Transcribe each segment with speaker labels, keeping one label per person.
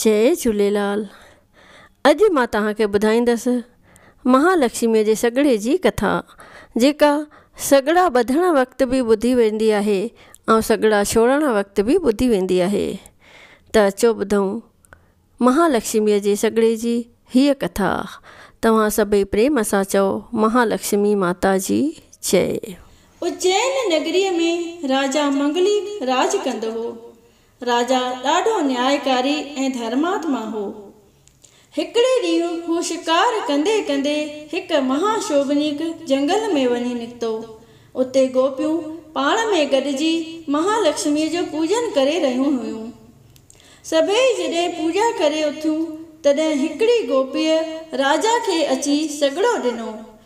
Speaker 1: جئي جھوليلال اڄ مان توھان کي ٻڌائيندس مھا لڪشمي جي سڳڙي جي ڪٿا جيڪا سڳڙا ٻڌڻ وقت به ٻڌي ويندي آھي ۽ سڳڙا ڇوڙڻ وقت به ٻڌي ويندي آھي ته اچو ٻڌون مھا لڪشمي جي سڳڙي جي ھيء ڪٿا توھان سڀئي پريم سان چئو مھا لڪشمي ماتا جي جئ. اجين
Speaker 2: نگريء ۾ راجا منگلي راڄ ڪندو هو. راجا ڏاڍو نيايڪاري ۽ ڌرماتما هو. هڪڙي ڏينهن هو شڪار ڪندي ڪندي هڪ مها شوڀنيڪ جهنگل ۾ وڃي نڪتو. اتي گوپيون پاڻ ۾ گڏجي مها لڪشميء جو پوڄن ڪري رهيون هيون. سڀيئي جڏهن پوڄا ڪري اٿيون تڏهن هڪڙي گوپيء راجا کي اچي سڳڙو ڏنو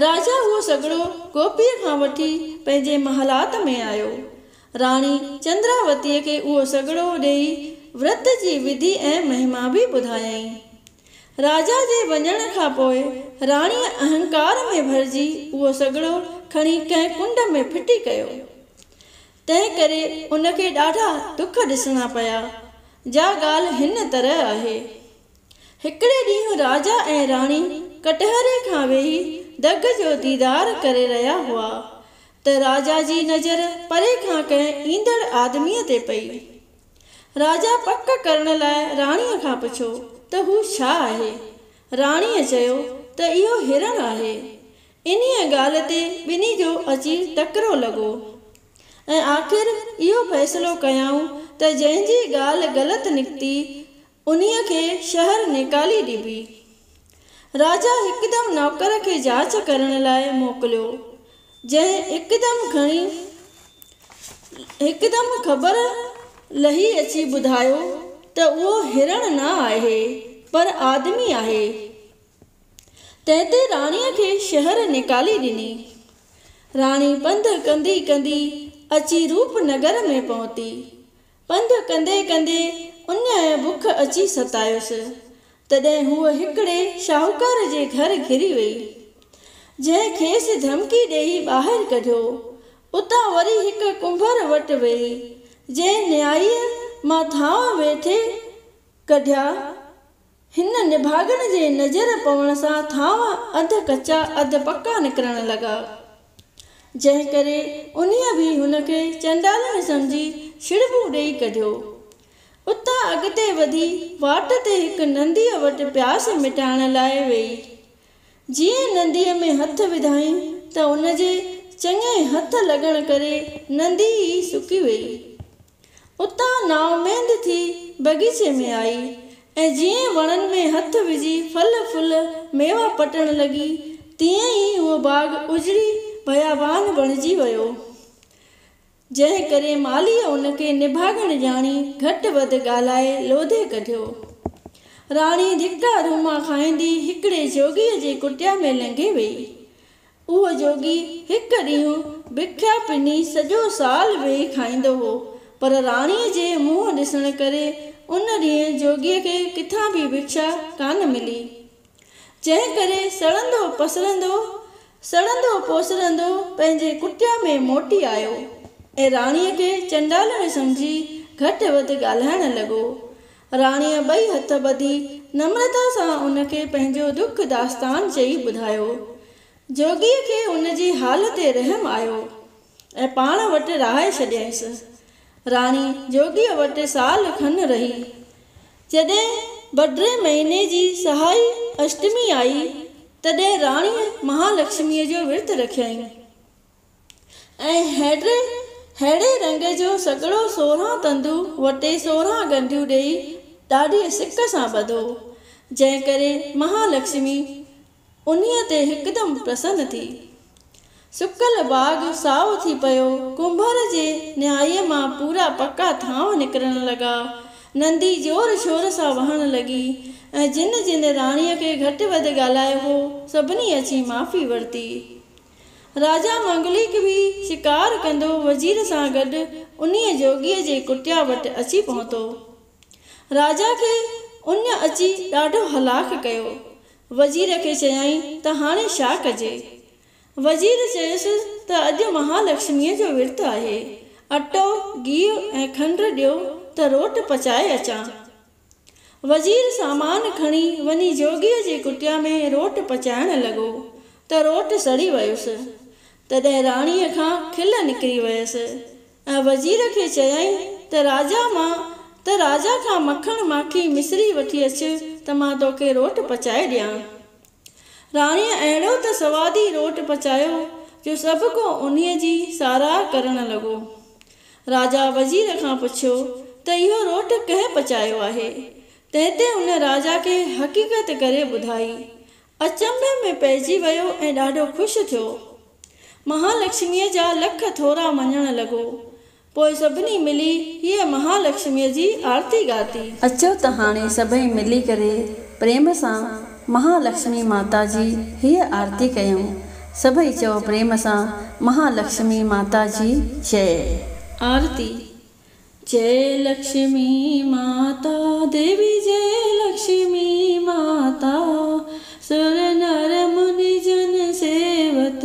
Speaker 2: راجا اهو سگهڙو گوپيء کان وٺي پنهنجي محلات ۾ آيو. راڻي چندراوتيء کي اهو سگهڙو ڏيئي ورت جي وڌي ۽ مهما به ٻڌايائين. راجا جي وڃڻ کان پوء راڻيء اهنڪار ۾ ڀرجي اهو سگهڙو کڻي ڪنهن ڪنڊ ۾ ڦٽي ڪيو. تنهن ڪري ان کي ڏاڍا ڏک ڏسڻا پيا. جا ڳالهه هن طرح آهي. هڪڙي ڏينهن راجا ۽ راڻي ڪٽهري کان ويهي دڳ جو ديدار ڪري رهيا هئا ته راجا جي نظر پري کان ڪنهن ايندڙ آدميء تي پئي. راجا پڪ ڪرڻ لاء راڻيء کان پڇيو ته هو ڇا آهي؟ راڻيء چيو ته اهو هرڻ آهي. انهيء ڳالهه تي ٻنهي جو اچي ٽڪرو لڳو ۽ آخر اهو فيصلو ڪيائون ته جنهن جي ڳالهه غلط نڪتي انهيء کي شهر نيڪالي ڏبي. راجا هڪدم نوڪر کي جاچ ڪرڻ لاء موڪليو، جنهن هڪدم کڻي هڪدم خبر لهي اچي ٻڌايو ته اهو هرڻ نه آهي، پر آدمي آهي. تنهن تي راڻيء کي شهر نيڪالي ڏني. راڻي پنڌ ڪندي ڪندي اچي روپ نگر ۾ پهتي. پنڌ ڪندي ڪندي ان بک اچي ستايس، تڏهن هوء هڪڙي شاهوڪار جي گهر گهري وئي، جنهن کيس ڌمڪي ڏيئي ٻاهر ڪڍيو. اتان وري هڪ ڪنڀر وٽ وئي، جنهن نهائيء مان ٿانء ويٺي ڪڍيا هن نڀاڳن جي نظر پوڻ سان ٿانو اڌ ڪچا اڌ پڪا نڪرڻ لڳا، جنهن ڪري انهيء به هن کي چنڊالڻي سمجهي ڇڙٻون ڏيئي ڪڍيو. اتان اڳتي وڌي واٽ تي هڪ ننديء وٽ پياس مٽائڻ لاء ويئي. جيئن ننديء ۾ هٿ وڌائين ته ان جي چڱي هٿ لڳڻ ڪري نندي ئي سڪي ويئي. اتان نااميد ٿي بغيچي ۾ آئي ۽ جيئن وڻن ۾ هٿ وجهي ڦل ڦل ميوا پٽڻ لڳي تيئن ئي اهو باغ اجڙي بيابان بڻجي ويو جنهن ڪري مالهيء ان کي نڀاڳڻ ڄاڻي گهٽ وڌ ڳالهائي لوڌي ڪڍيو. راڻي ڌڪا روما کائيندي هڪڙي جوڳيء جي ڪٽيا ۾ لنگهي ويئي. اهو جوڳي هڪ ڏينهن بکيا پني سڄو سال ويهي کائيندو هو، پر راڻيء جي منهن ڏسڻ ڪري ان ڏينهن جوڳيء کي ڪٿان به بکيا ڪانه ملي، جنهن ڪري سڙندو پسرندو، سڙندو پوسرندو پنهنجي ڪٽيا ۾ موٽي آيو ۽ راڻيء کي چنڊالڻي سمجهي گهٽ وڌ ڳالهائڻ لڳو، راڻيء ٻئي هٿ ٻڌي نمرتا سان ان کي پنهنجو دک داستان چئي ٻڌايو. جوڳيء کي ان جي حال تي رحم آيو ۽ پاڻ وٽ رهائي ڇڏيائينس. راڻي جوڳيء وٽ سال کن رهي. جڏهن بڊري مهيني جي سهائي اشٽمي آئي، تڏهن راڻيء مهالڪشميء جو ورت رکيائين. ۽ ههڙي رنگ جو سڳڙو سورهن تندو وٽي سورهن ڳنڍيون ڏيئي ڏاڍيء سڪ سان ٻڌو، جنهن ڪري مها لڪشمي انهيء تي هڪدم پرسن ٿي. سڪل باغ سائو ٿي پيو، ڪنڀر جي نهائيء مان پورا پکا ٿانو نڪرڻ لڳا، نندي زور شور سان وهڻ لڳي، ۽ جن جن راڻيء کي گهٽ وڌ ڳالهايو هو، سڀني اچي معافي ورتي. راجا منگليڪ به شڪار ڪندو وزير سان گڏ انهيء جوڳيء جي ڪٽيا وٽ اچي پهتو. راجا کي ان اچي ڏاڍو هلاڪ ڪيو. وزير کي چيائين ته هاڻي ڇا ڪجي؟ وزير چيس ته اڄ مهالڪشميء جو ورت آهي. اٽو، گيهه ۽ کنڊ ڏيو ته روٽ پچائي اچان. وزير سامان کڻي وڃي جوڳيء جي ڪٽيا ۾ روٽ پچائڻ لڳو ته روٽ سڙي ويس. تڏهن راڻيء کان کل نڪري ويس ۽ وزير کي چيائين ته راجا مان ته راجا کان مکڻ ماکي مصري وٺي اچ ته مان توکي روٽ پچائي ڏيان. راڻيء اهڙو ته سوادي روٽ پچايو جو سڀ ڪو انهيء جي ساراهه ڪرڻ لڳو. راجا وزير کان پڇيو ته اهو روٽ ڪنهن پچايو آهي؟ تنهن تي ان راجا کي حقيقت ڪري ٻڌائي. اچنڀي ۾ پئجي ويو ۽ ڏاڍو خوش ٿيو. مهالڪشميء جا لک ٿورا مڃڻ لڳو. پوء سڀني ملي هيء مها لڪشميء جي آرتي ڳاتي. اچو ته هاڻي سڀئي ملي ڪري پريم سان مها لڪشمي ماتا جي هيء آرتي ڪيون. سڀئي چئو پريم سان مها لڪشمي ماتا جي جئي. آرتي، جئه لڪشمي ماتا ديوي جئه لڪشمي ماتا، سر نر مني جن سيوت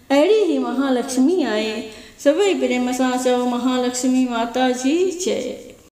Speaker 2: اهڙي هي مهالڪشمي آهي. سڀئي پريم سان چئو مهالڪشمي ماتا جي جئي.